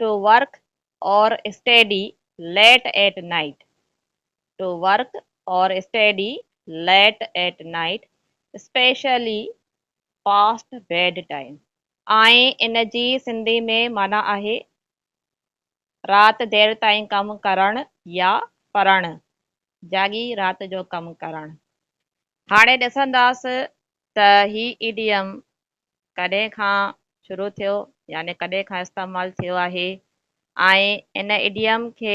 Two work or study late at night to work or study late at night especially past bed time. ۽ ان جي سنڌي ۾ معنيٰ آهي رات دير تائين ڪم ڪرڻ يا پڙهڻ، جاڳي رات جو ڪم ڪرڻ. هاڻي ڏسنداس ته هي ايڊيم ڪڏهن کان شروع ٿيو يعني ڪڏهن کان استعمال ٿيو آهي ۽ ان ايڊيم کي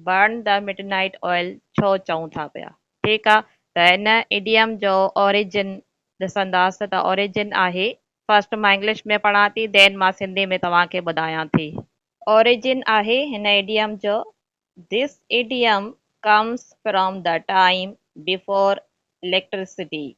burn the midnight oil ڇو چئون ٿا پيا ٺيڪ آ ته ان ايڊيم جو اوريجن ڏسنداس ته اوريجن آهي فرسٽ مان انگلش ۾ پڙهان ٿي دين مان سنڌي ۾ توهان کي ٻڌايان ٿي. اوريجن آهي هن ايڊيم جو This idiom comes from the time before electricity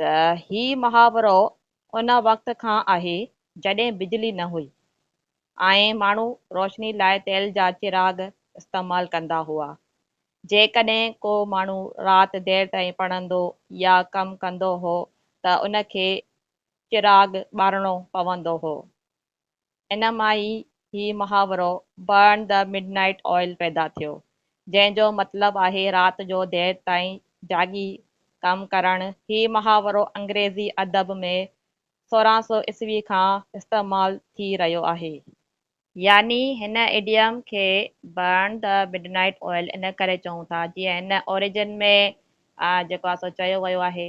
ته هي محاورو ان وقت کان آهي جڏهن بجلي نه هئي ۽ ماڻهو روشني لاء تيل جا چراغ استعمال ڪندا هئا. جيڪڏهن ڪو ماڻهو رات دير تائين پڙهندو يا ڪم ڪندو هو ته ان کي چراغ ٻارڻو پوندو هو. ان مان ئي هي محاورو Burn the Midnight Oil پيدا ٿيو، جنهن جو مطلب آهي رات جو دير تائين جاڳي ڪم ڪرڻ. هي محاورو انگريزي ادب ۾ سورهن سو عيسوي کان استعمال ٿي رهيو آهي. يعني هن ايڊيم کي Burn the Midnight Oil ان ڪري چئون ٿا، جيئن هن اوريجن ۾ جيڪو آهي سو چيو ويو آهي.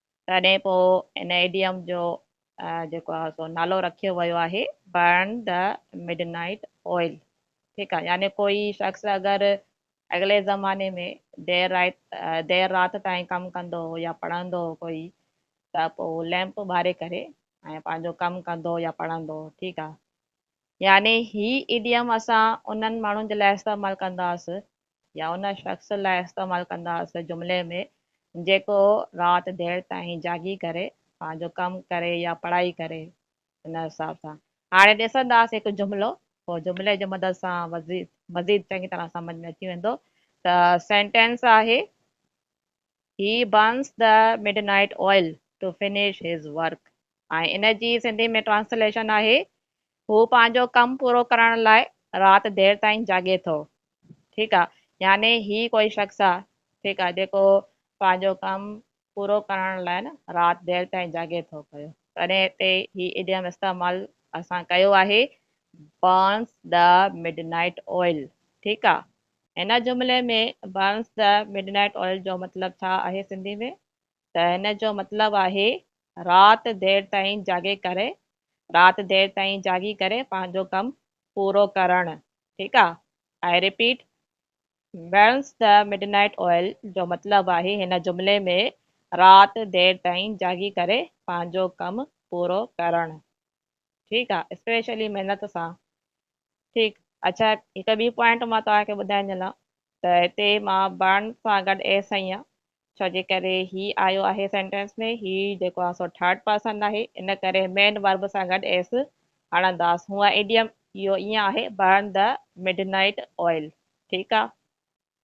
تڏهن پوء ان ايڊيم جو جيڪو آهي سو نالو رکيو ويو آهي Burn the Midnight Oil ٺيڪ آهي يعني ڪوئي شخص اگر اڳلي زماني ۾ دير رات دير رات تائين ڪم ڪندو هو يا پڙهندو هو ڪوئي ته پوء ليمپ ٻاري ڪري ۽ پنهنجو ڪم ڪندو يا پڙهندو هو ٺيڪ آهي يعني هي ايڊيم اسان انهن ماڻهن جي لاء استعمال ڪنداسين يا ان شخص لاء استعمال ڪنداسين جملي ۾ جيڪو رات دير تائين جاڳي ڪري پنهنجو ڪم ڪري يا پڙهائي ڪري ان حساب سان هاڻي ڏسنداسين هڪ جملو پوء جملي جي مدد سان مزيد چڱي طرح سمجھ ۾ اچي ويندو ته سينٽينس آهي He burns the midnight oil to finish his work ۽ ان جي سنڌي ۾ ٽرانسليشن آهي، هو پنهنجو ڪم پورو ڪرڻ لاء رات دير تائين جاڳي ٿو. ٺيڪ آ يعني هي ڪوئي شخص آ ٺيڪ آ جيڪو پنهنجو ڪم پورو ڪرڻ لاء نه رات دير تائين جاڳي ٿو پيو تڏهن هتي هي ايڊيم استعمال اسان ڪيو آهي Burns the midnight oil ٺيڪ آ هن جملي ۾ Burns the Midnight Oil جو مطلب ڇا آهي سنڌي ۾ ته هن جو مطلب آهي رات دير تائين جاڳي ڪري رات دير تائين جاڳي ڪري پنهنجو ڪم پورو ڪرڻ ٺيڪ آ I repeat Burns the Midnight Oil جو مطلب آهي هن جملي ۾ رات دير تائين جاڳي ڪري پنهنجو ڪم پورو ڪرڻ. ٺيڪ آ اسپيشلي محنت سان ٺيڪ اچا هڪ ٻي پوائنٽ مان توهان کي ٻڌائي ڏيان ته هتي مان برن سان گڏ ايس آهيان ڇو جي ڪري هي آيو آهي سينٽينس ۾ هي جيڪو آهي سو ٿرڊ پرسن آهي ان ڪري مين ورب سان گڏ ايس هڻنداس هونء ايڊيم اهو ائين آهي burn the midnight oil ٺيڪ آ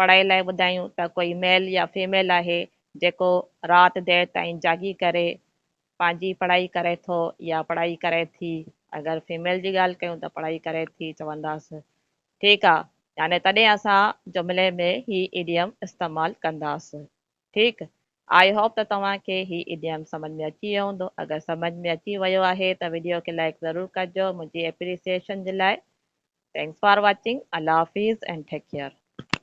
پڙهائي لاء ٻڌايون ته ڪوئي ميل يا فيميل آهي جيڪو رات دير تائين جاڳي ڪري پنهنجي پڙهائي ڪري ٿو يا پڙهائي ڪري ٿي اگر فيميل جي ڳالهه ڪيون ته پڙهائي ڪري ٿي چونداس ٺيڪ آ يعني تڏهن اسان جملي ۾ هي ايڊيم استعمال ڪنداس ٺيڪ آئي هوپ ته توهان کي هي ايڊيم سمجھ ۾ اچي ويو هوندو اگر سمجھ ۾ اچي ويو آهي ته ويڊيو کي لائڪ ضرور ڪجو منهنجي اپريسيئيشن جي لاء ٿينڪس فار واچنگ الله حافظ اينڊ ٽيڪ ڪيئر.